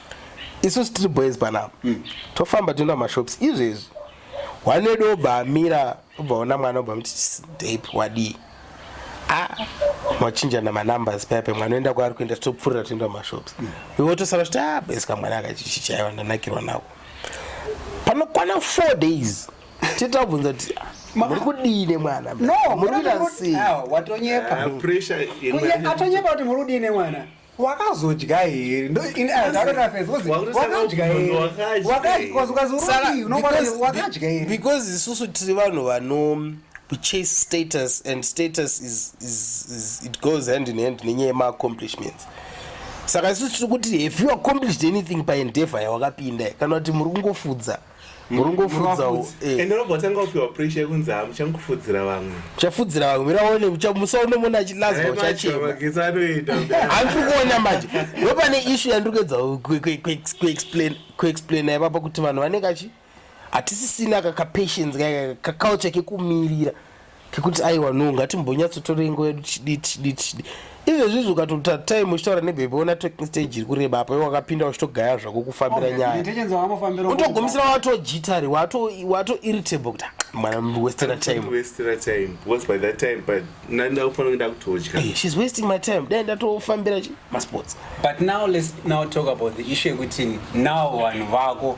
isusu tiri boys panapa mm. tofamba toenda mashops izvezvi wanedi obva amira obva ona mwana obva muti dep wadii a machinjana manumbers paya pemwana oenda kwaari kuenda topfuurira toenda mashops mm. iwe tosara kuti a ah, boys kamwana akachichichaiwa ndanakirwa nako panokwana four days titabvunza kuti muri kudii nemwana no muri kuita sei watonyepa ah, atonyepa kuti muri kudii nemwana wakazodya here because isusu tiri vanhu vano kuchase status and status is, is, is, it goes hand in hand nenyaya yemaaccomplishments saka isusu tiri kuti have you accomplished anything paendever yawakapinda kana kuti muri kungofudza murongofudzawo eh. ende unobva watanga kupiwa presha yekunzi hamuchangofudzira vamwe uchafudzira vamwe mira one musaone mona achilazwa uchachemahandiri kuona manje wepane ishu yandiri kuedza kuexplaina ipapa kuti vanhu vanenge achi hatisisina kakapatience kaculture kekumirira kekuti aiwa no ngatimbonyatsotorei nguva yedu chidii tichidii tichidii izvezvizvi ukatoita time uchitaura nebhebhi ona talking stage iri kureba apo iwe wakapinda uchitogaya zvako kufambira nyayautogumisira watojitari watoirritable kuti mwana westera timehe's wasting my time dai ndatofambira masports but now let's now talk about the issue yekuti now vanhu vako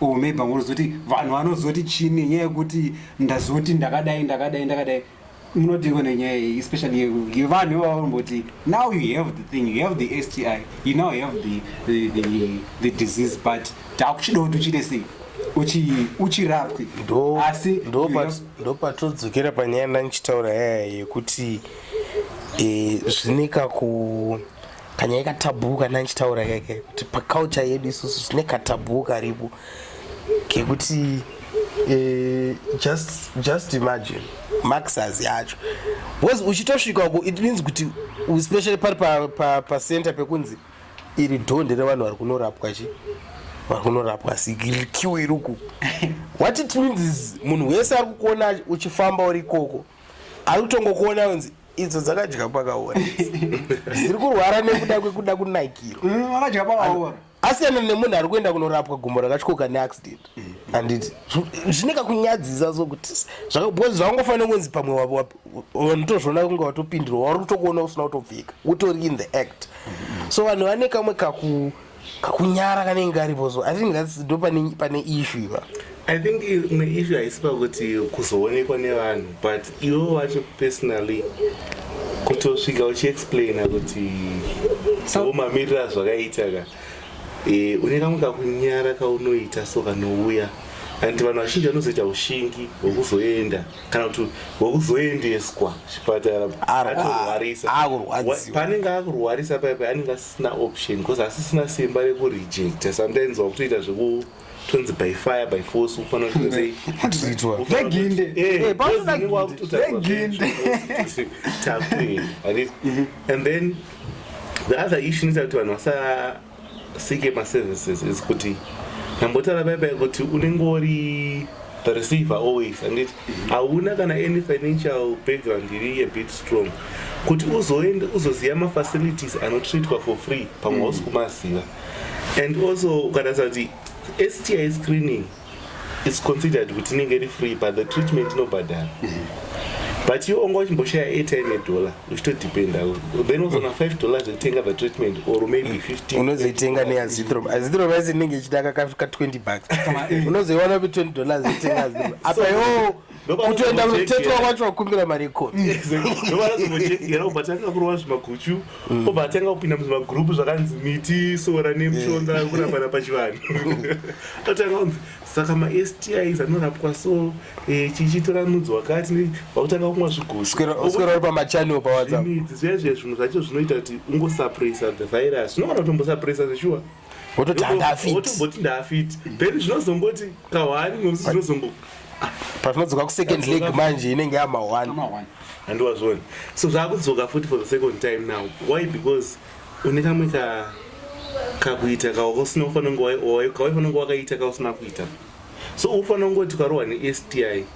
or oh, maybe vanozoti vanhu vanozoti chii nenyaya yekuti ndazoti ndakadai ndakadai ndakadai munodiko nenyaya iyi especially yevanhu ivavamboti now you have the thing you have the sti you now have the, the, the, the disease but takuchidawo kuti uchiite sei uchirapwi asi ndopatodzokera panyaya ndandichitaura yaya yekuti eh, zvine kaku kanyaya katabhuu kana ndichitaura kake kuti paculture yedu isusu zvine katabhuu karipo kekuti eh, just just imagine maxers yacho because uchitosvika uko it means kuti especially pari pacenter pa, pa pekunzi iri dhonde revanhu vari kunorapwa chi vari kunorapwa sikiwe iri uku what it means is munhu wese ari kukuona uchifamba uri ikoko ari kutongokuona unzi idzo dzakadya pakaora dziri kurwara nekuda kwekuda kunaikirwa mm, vakadya pakaora asiyana nemunhu ari kuenda kunorapwa gumbo rakatyoka neaccident handiti zvine kakunyadzisa sokuti zvakabcoz zvakangofanira kunzi pamwe vanotozviona kunge watopindirwa wari kutokuona usina kutopfika utori in the act so vanhu vane kamwe kaku kakunyara kanenge karipo so i think thats ndo pane ishu iva i think imwe ishu haisi pakuti kuzoonekwa nevanhu but iwo wacho personally kutosvika uchiexplaina kuti somamirira zvakaita ka e, une kamwe kakunyara kaunoita so kanouya and vanhu vazhinji vanozoita ushingi hwekuzoenda kana kuti wekuzoendeswa chipatara atorwarisa paanenge akurwarisa paipa anenge asisina option because asisina simba rekurejecta sometimes wakutoita zveku tonzi by fire by force ufanira kutozeiveginde eh, mhm. and then the other issue inoita kuti vanhu vasa Sike ma services is kuti ndambotaura baiba kuti unenge uri the receiver always anditi hauna kana any financial background iri a bit strong kuti uzoende uzoziva mafacilities anotreatwa for free pamwe hausi mm. kumaziva and also ukatarisa kuti sti screening its considered kuti inenge iri free but the treatment inobhadhara but iwe wanga uchimboshaya airtime yedollar uchitodependa then wazona five dollars zvekutenga the treatment or maybe mm. fifteen unozoitenga neazithrom azithrom yese inenge ichida ka20 bucks unozoiwana kuti 20 dollars itenga azithrom apa yo kutoenda kunotetwa kwacho vakumbira mari yekomiobva tanga kurova zvimaguchu mm. obva atanga kupinda muzvimagrupu zvakanzi miti sora nemushonga eh. kurapana pachivanhu atanga kunzi saka mastis anorapwa so eh, chichitora mudzi wakati vakutanga kumwa zviguswera pamachanel pawatsapp zviya zviya zvimwe zvacho zvinoita kuti ungosaprisa the virus unoona kuti umbosaprisa zveshuwa wototi handafit wotomboti ndafit then zvinozongoti kahwani nokuti zvinozongo patinodzoka kusecond leg manje inenge yama one handiwazvoni so zvaakudzoka futi for the second time now why because une kamwe ka kakuita kausina kufanira kunge waifanira kunge wakaita kausina kuita so ufanira kungoti ukarohwa nesti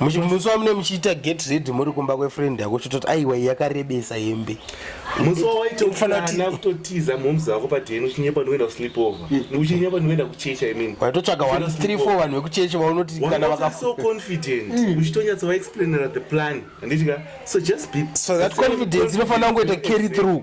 musi wamune muchiita get ready muri kumba kwefriend yako chitoti aiwa yakarebesa hembe musi wawaitofanira kutotiza momzi vako padeni uchinyepa ndikuenda kusleep over hmm. uchinyepa ndikuenda kuchecha imin waitotsvaga 134 vanhu vekuchecha vaunoti kana vaka so confident hmm. uchitonyatsa vaexplainera the plan handiti ka so just be so that confidence inofanira kungoita carry through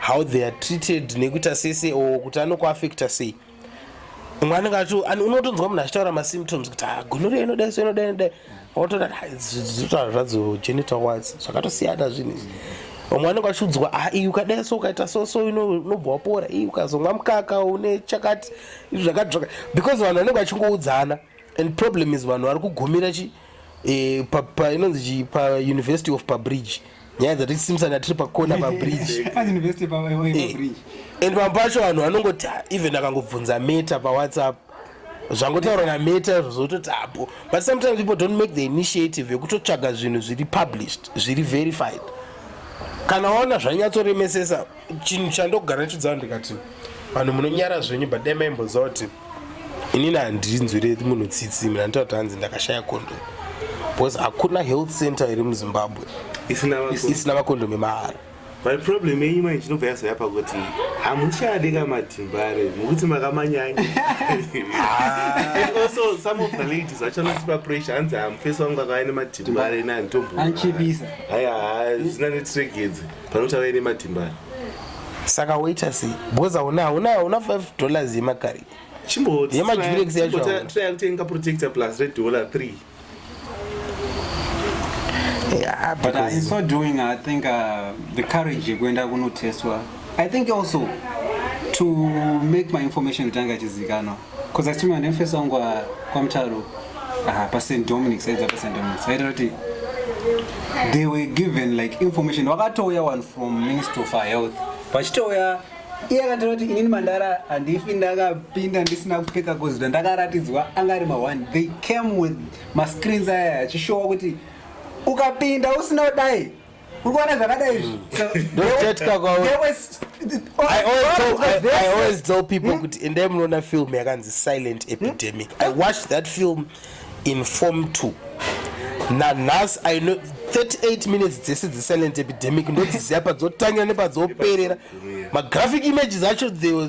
how they are treated nekuita sese or kuti anokuafecta sei umwe anenge acho unotonzwa munhu achitaura masymptoms kuti ah, gonoria inodai so inodai inodai otoda zvotaura zvadzo genital wats zvakatosiyana zvinhu izvi vamwe anenge achiudzwa ah, iyi ukadai so ukaita so so unobva wapora iyi ukazomwa mukaka une chakati izvi zvakati zvakati because vanhu vanenge vachingoudzana and problem is vanhu vari kugumira chii eh, pa, pa inonzi chii pauniversity of pabridge nyaya dzatiri simsana tiri pakona pabridge As university pa- pa- pa- Eh, bridge. and pamwe pacho vanhu vanongoti "Ah, even akangobvunza meta pawhatsapp zvangotaurwa nameta zvozototi apo but sometimes people don't make the initiative yekutotsvaga zvinhu zviri published zviri verified kana waona zvanyatsoremesesa chinhu chandogara ndichiudzawo ndikati vanhu munonyara zvenyu but dai maimboziva kuti inini handinzwire munhu tsitsi mina nditati hanzi ndakashaya kondo because hakuna health center iri muzimbabwe isina makondomi mahara but problem yenyu mai chinobva yazoya pakuti hamuchadi ka matimbare mukuti makamanyanya also some of the ladies vachanotipa pressure hanzi hamufesi wangu akava nematimbare nani tomboohaya zvina netiregedze Panotaura ine matimba ari. Saka woita sei? Because hauna hauna hauna 5 dollars yemakari. Chimbo yemajurex yacho. Try kutenga protector plus red dollar 3. Yeah, but uh, in so doing I think uh, the courage yekuenda kunotestwa I think also to make my information itanga chizikanwa Koza chima nemfesi wangu wa kwamtaro aha pa St Dominic saidza pa St Dominic saita kuti they were given like information wakatouya one from Ministry of Health vachitouya iye akataura kuti inini mandara handifi ndakapinda ndisina kupfeka kozita ndakaratidzwa anga ari maone they came with mascreens aya achishowa kuti ukapinda usina kudai kuri kuwana zvakadai izvi ndotetya kwavo There was- all- I always, all tell, of the I, I verses- always tell people kuti endai munoona film yakanzi silent epidemic i watched that film in form 2 nanhasi i know 38 minutes dzese dzesilent epidemic ndodziziva padzotangira nepadzoperera magraphic images acho they were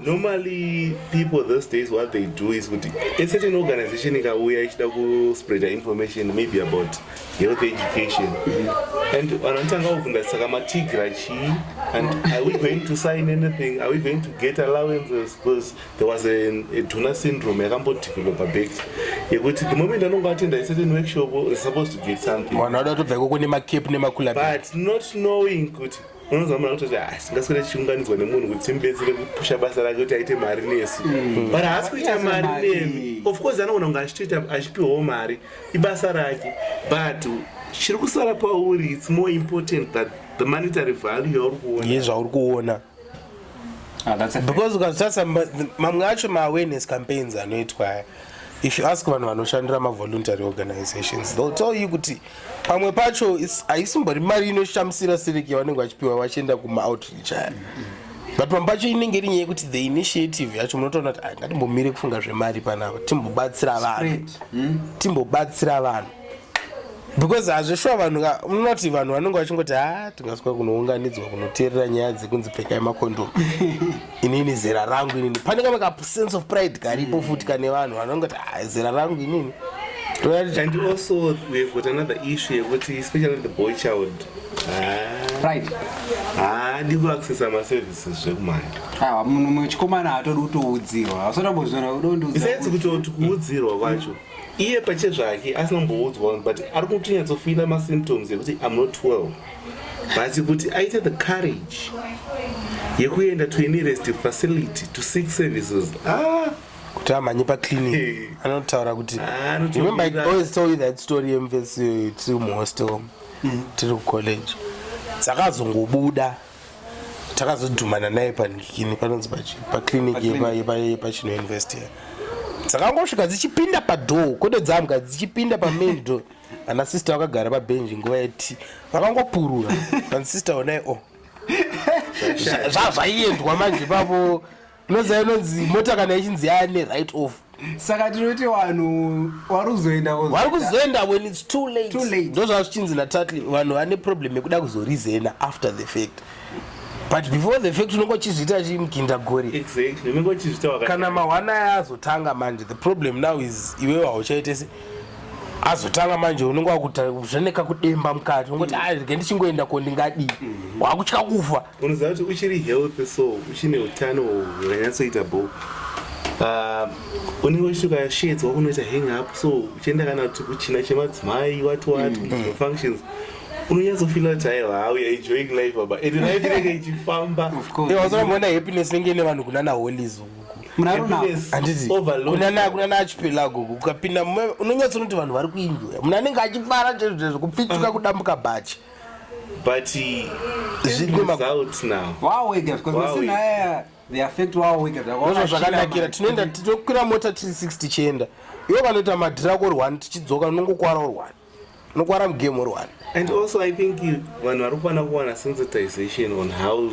normally people those days what they do is kuti a certain organization ikauya ichida kuspreada information maybe about health education and vanotanga kubvunza saka matigra chii and are we going to sign anything are we going to get allowances because there was a, a duna syndrome yakambodevelopa back yekuti the moment anonge atenda certain workshop is supposed to get something vanhu vada kutobva ikoko nemacap nemakulabut not knowing kuti unonzwa munhu akutoti asi ah, ngaswere tichiunganidzwa nemunhu kuti timubetsere kupusha basa rake kuti aite mari nesu mm. but haasi kuita mari nemi of course anogona kunge achitoita achipiwawo mari ibasa rake but chiri kusara pauri its more important that the monetary value yauri kuona ye zvauri kuona ah, because ukazotarisa mamwe acho maawareness campaigns anoitwa aya if you ask vanhu vanoshandira mavoluntary organizations they'll tell you kuti pamwe pacho haisimbori mari inoshamisira siriki yavanenge vachipiwa vachienda kumaoutreach aya but pamwe pacho inenge iri nyaya yekuti the initiative yacho munotoona kuti ngatimbomire kufunga zvemari panapa timbobatsira vanhu hmm? timbobatsira vanhu because hazvishuwa vanhu ka unoti vanhu vanenge vachingoti ha ah, tingaswa kunounganidzwa kunoteerera nyaya dzekunzi pfekai makondomu inini zera rangu inini pane kamwe ka sense of pride karipo mm. futi kane vanhu vanonge kuti ah, zera rangu inini and also we have got another issue yekuti especially the boy child pride haadi kuaccessa maservices zvekumhanya ah, muchikomana hatodi kutoudzirwa hausatambozviona udondiusaitsi kutoti kuudzirwa kwacho iye pachezvake asina kumboudzwa but ari kutonyatsofila masymptoms ekuti im not well but kuti aite the courage yekuenda to any rest facility to seek services ah kuti amhanye paclinic anotaura kuti ah, remember i always told you that story yemvesi tiri muhostel mm. tiri kucollege dzakazongobuda takazodhumana naye panikini panonzi paclinic yepachino university dzakangosvika dzichipinda padoo kwete dzamga dzichipinda pamain door ana sister vakagara pabenji nguva yeti vakangopurura pansister onai o oh. zvazvaiendwa manje pavo unoziva inonzi mota kana ichinzi yaya ne right off saka tinoti vanhu vari kuzoenda vari kuzoenda when its too late, too late. ndozvava zvichinzi natatly vanhu vane problem yekuda kuzorizena after the fact but before the fact unenge uchizviita chimukinda gori kana mahwana aya azotanga manje the problem now is iwewe hauchaite se azotanga manje unenge wakuzvaneka kudemba mukati ungoti mm. airege ndichingoenda ko ndingadii mm. wakutya kufa unoziva kuti uchiri healthy so uchine utano hwakanyatsoita bo ah, unenge uchituka sheds wakunoita hang up so uchienda kana kuti kuchina chemadzimai wati wati mm. mm. functions unonyatsofila kuti aiwa how you're enjoying life baba and life inenge ichifamba wazoramboona happiness inenge ine vanhu kunana holies munanakunana achipelago ukapinda unonyatsonoti vanhu vari kuinjoya munhu anenge achifara chezvezvo kupfituka mm. kudambuka bhachi mm. but result now wow wega because wow, masina aya the affect wow wega zvakona zvakanakira tinoenda tinokwira mota 360 tichienda iwo kanoita madhira ko rwani tichidzoka unongokwara urwani unokwara mugame urwani and also i think vanhu vari kufanira kuwana sensitization on how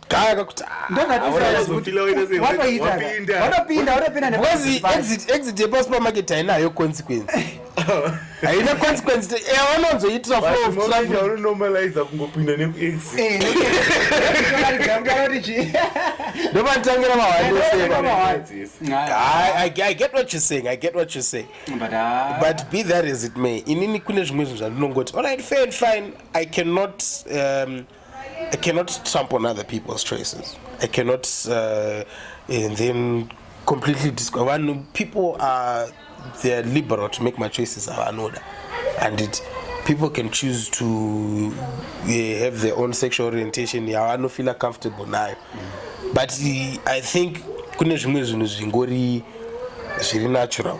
Kaya kakuti ah, exit yepasupermarket hainayo consequence haina consequence yavanonzoitira eh, flowanormaliza kungopinda nekuexitndopanditangira mahandoseaiget what you saying i get what you saying but, uh, but be that as it may inini kune zvimwe zvinhu zvandinongoti allright fair and fine i cannot um, I cannot tramp on other people's choices. I cannot uh, and then completely disco. When people are they're liberal to make my choices avanoda and it people can choose to uh, have their own sexual orientation yavanofeela comfortable nayo but uh, i think kune zvimwe zvinhu zvingori zviri natural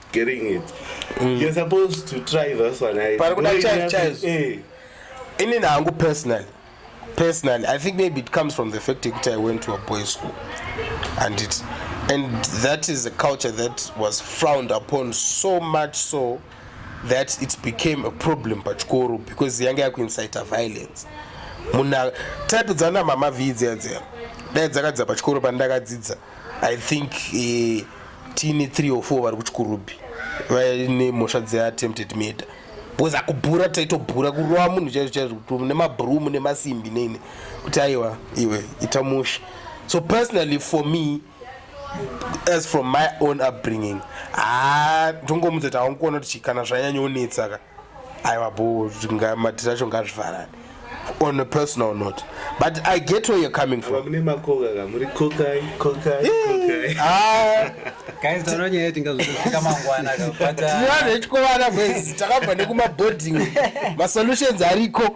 getting it mm. you're supposed to try this one right? pari kuda chaizo chaizo eh. ini nangu personally personally i think maybe it comes from the fact yekuti i went to a boy school and it and that is a culture that was frowned upon so much so that it became a problem pachikoro because yanga yakuincita violence muna type dzana mama vii dziya dziya dai dzakadzidza pachikoro pandakadzidza i think eh, tine 3 or 4 vari kuchikurubhi vaine mhosva dzeattempted murder because akubhura taitobhura kurova munhu chaizvo chaizvo nemabroom nemasimbi neine kuti aiwa iwe ita musha so personally for me as from my own upbringing ha ndongomudza kuti haunkuona kuti chikana zvanyanya onetsaka aiwa bho mati racho ngazvivharane on a personal note but i get where you're coming from mune makoka ka muri kokai kokai kokai ah guys tano nyaya tinga zvosvika mangwana ka but uh, tiyana ichkovana guys takabva nekuma boarding ma solutions ariko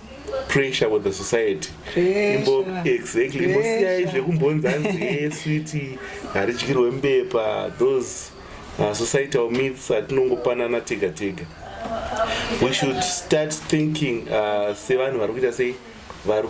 pressure with the society imbo exactly imbosiyai zvekumbonza nzee switi haridyirwe mbepa those uh, societal myths atinongopanana tega tega we should start thinking uh, sevanhu vari kuita sei vari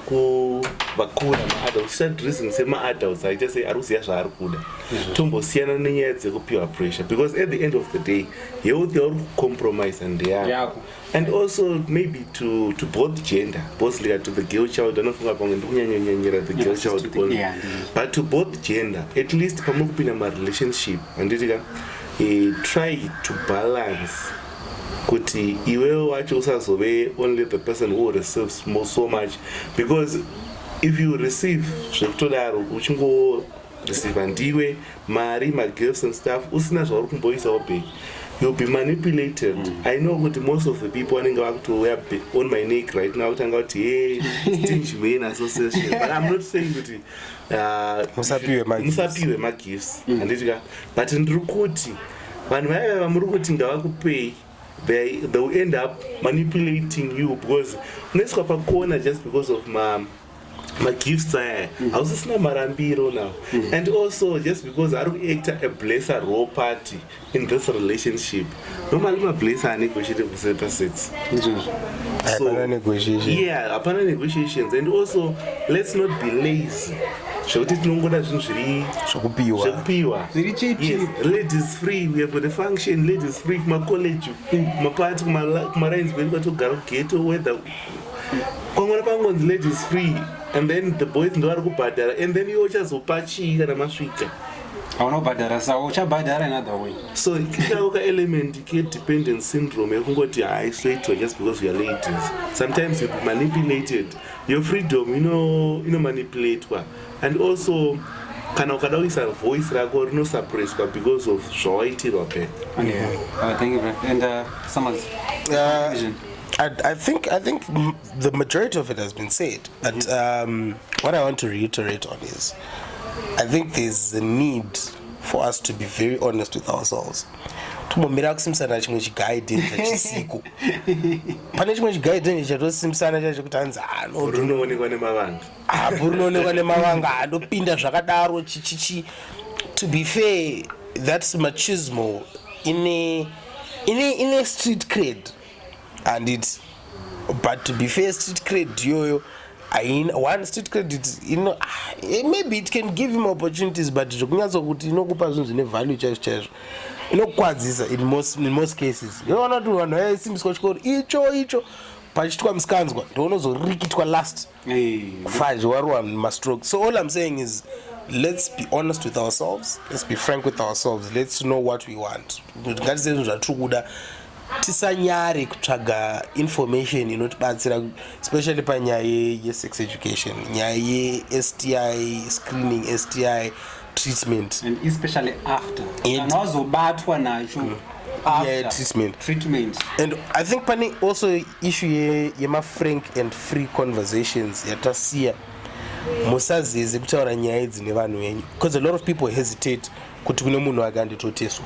vakura maadults start reason semaadults aita sei ari kuziva zvaari kuda mhm. tombosiyana nenyaya dzekupiwa pressure because at the end of the day health yauri kucompromise ndeyako and also maybe to, to both gender both like to the girl child anofunga pamwe ndikunyanyanyanyira the girl child only yeah, but to both gender at least pamwe kupinda marelationship handiti ka eh, try to balance kuti iwewe wacho usazove only the person who receives more so much because if you receive zvekutodaro uchingo receiver ndiwe mari magifts and stuff usina zvauri kumboisawo back you'll be manipulated mm. i know kuti most of the people vanenge vakutouya on my neck right now kutanga kuti hey stingy way in association but i'm not saying kuti uh, musapiwe magifts mm. handiti ka but ndiri kuti vanhu vaiva vamuri kuti ngavakupei they, they will end up manipulating you because unoiswa pakona just because of ma magifts aya mm. hausisina marambiro now mm. and also just because ari kuacta a blesser raw party in this relationship normally mablesser anegotiate kuseta sex yeah hapana negotiations and also let's not be lazy zvekuti tinongoda zvinhu zviri zvekupiwa ladies free we have got a function ladies free kumacollege mm. kumapati kumalines kwedu kwatogara kugeto whether kwangwana pangonzi ladies free and then the boys ndovari kubhadhara and then iwe uchazopa chii kana masvika hauna kubhadhara sa uchabhadhara another way so kinawo ka element kedependence syndrome yekungoti haisoitwa just because youare ladies sometimes youll be manipulated your freedom inomanipulatwa ino and also kana ukada kuisa voice rako rinosuppresswa because of zvawaitirwa pe yeah. uh, thank you, and, uh, I, I think I think the majority of it has been said, but mm -hmm. um, what I want to reiterate on is, I think there's a need for us to be very honest with ourselves. tombomira kusimusana chimwe chigaidini chachisiko pane chimwe chigaidini chatosimusana chacho kuti hanzi anorunoonekwa ah, nemavanga apo ah, runoonekwa nemavanga handopinda ah, zvakadaro chichichi to be fair that's machismo ine ine ine street crade handiti but to be fair street credit iyoyo aina one street credit ino ah, eh, maybe it can give him opportunities but zvekunyatso kuti inokupa zvinhu zvine value chaizvo chaizvo inokukwadzisa in most, in most cases inoona kuti vanhu vaisimbiswa chikoro icho icho pachitwa misikanzwa ndounozorikitwa last kufadzi warowa mastroke so all im saying is let's be honest with ourselves let's be frank with ourselves let's know what we want ngatizive zvinhu zvatiri kuda tisanyare kutsvaga information inotibatsira especially panyaya yesex education nyaya yesti screening sti treatment and especially after and wazobatwa nacho mm. yeah, treatment treatment and i think pane also issue ye, yema frank and free conversations yatasiya musazeze kutaura nyaya idzi nevanhu venyu because a lot of people hesitate kuti kune munhu ake anditoteswa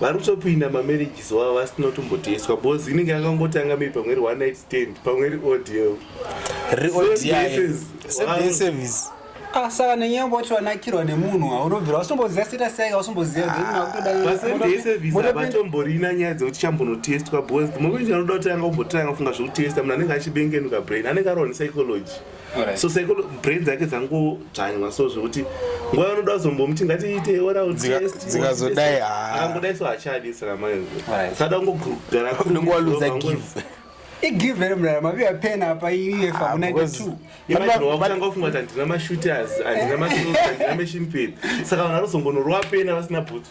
vari kutopinda mamarriages wavo vasina kutomboteswa bcoz inenge yakangotanga maybe pamwe ri one night stand pamwe ri odl ah, saka nenyaya yekuti wanakirwa nemunhu haunobvira wasitomboziva status yake wasitombozivaatotomborina ah, nyaya dzekuti chambonotestwa bcoz mumwe kuti anoda kuti anga umbotanga kufunga zvekutesta munhu anenge achibengenuka brain anenge arova nepsychology so sekuru brain dzake dzangodzvanywa so zvekuti nguva yanoda kuzombomuti ngatiite oral test dzikazodai haangodai so hachadi saka mai sada kungogara kunenge waluza give igive ere mrara maviwa pen apa iyefa ku92vatanga kufunga kuti handina mashooters handina maandina machine pen saka vanhu vanozongonorova pena vasina bhutsu